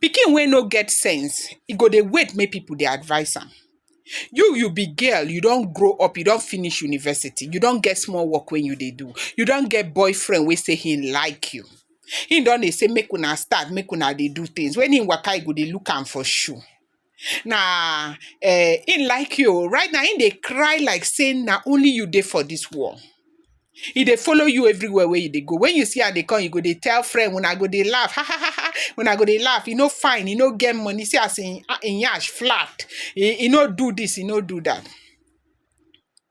Pikin wey no get sense, e go dey wait make pipu dey advice am. You you be girl, you don grow up, you don finish university, you don get small work wey you dey do, you don get boyfriend wey sey hin like you, hin don dey sey make una start, make una dey do things, when hin waka, you go dey look am for shoe. Na um im like you o. Right now im dey cry like sey na only you dey for dis world. E dey follow you everywhere wey you dey go. When you see am dey come, you go dey tell friend, una go dey laugh, ha ha ha ha, una go dey laugh. E no fine, e no get money, see as im im nyash flat, e e no do dis, e no do dat.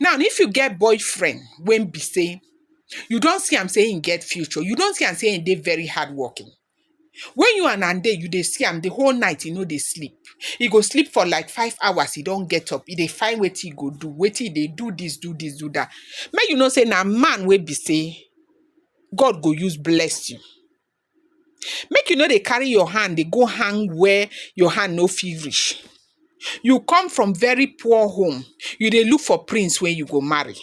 Now if you get boyfriend wey be sey you don see am sey im get future, you don see am sey im dey very hardworking, wen you and am dey you dey see am de whole night e no dey sleep, e go sleep for like five hours e don get up e dey find wetin e go do, wetin e dey do dis do dis do dat, make you know sey na man wey be sey God go use bless you. Make you no dey carry your hand dey go hang where your hand no fit reach. You come from very poor home, you dey look for prince wey you go marry.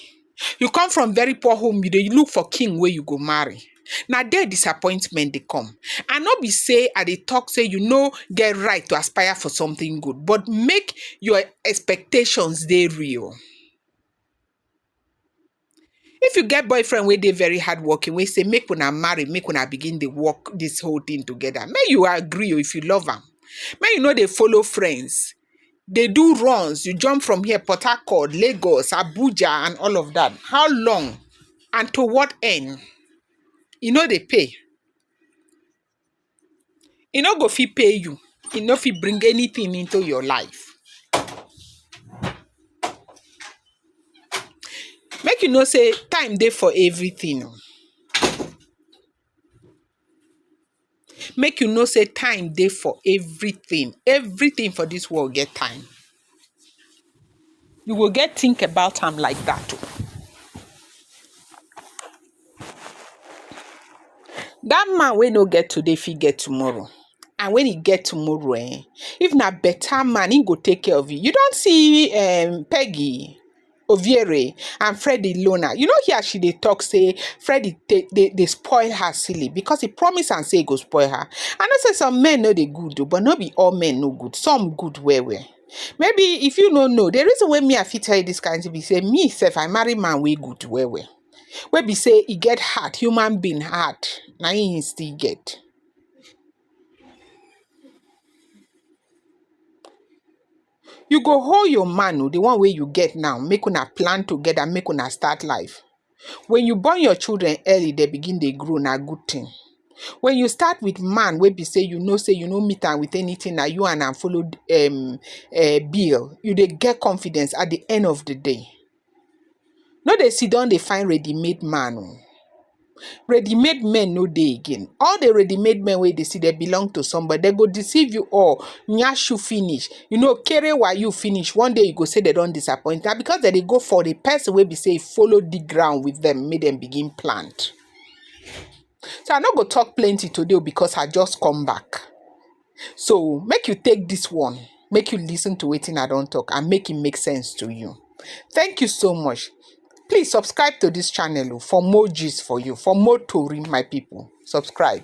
You come from very poor home, you dey look for king wey you go marry. Na there disappointment dey come. And no be sey I dey talk sey you no get right to aspire for something good but make your expectations dey real. If you get boyfriend wey dey very hardworking, wey say make una marry, make una begin dey work this whole thing together, make you agree o if you love am. Make you no dey follow friends, dey do runs, you jump from here, Port Harcourt, Lagos, Abuja and all of that. How long and to what end? E no dey pay. e no go fit pay you, e no fit bring anything into your life. Make you know sey time dey for everything oh. Make you know sey time dey for everything, everything for dis world get time. You go get think about am like that o. That man wey no get today fit get tomorrow and when e get tomorrow um if na better man e go take care of you. You don see um Peggy? Oviere and Freddy Lona. You know here she dey talk say Freddy dey dey dey spoil her silly because he promise am say he go spoil her. I know say some men no dey good o, but no be all men no good. Some good well well. Maybe if you no know, the reason why me I fit tell you this kind thing be say me sef I marry man wey good well well. Wey be say he get heart, human being heart, na him he still get. You go hold your man, oh, the one where you get now, make una plan together, make una start life. When you born your children early, they begin they grow na good thing. When you start with man, where be say you know say you know meet am with anything that you and am follow um uh, bill, you they get confidence at the end of the day. No dey sit down dey find ready made man oh, ready made men no dey again, all the ready made men wey you dey see dem belong to somebody, dem go deceive you all, nyash you finish, you know kere wa you finish, one day you go say dem don disappoint, na because dem dey go for the person wey be sey e follow dig ground with dem make dem begin plant. So I no go talk plenty today oh because I just come back. So make you take this one, make you listen to wetin I don talk and make it make sense to you. Thank you so much. Please subscribe to this channel oh, for more gist for you, for more tori my people. Subscribe.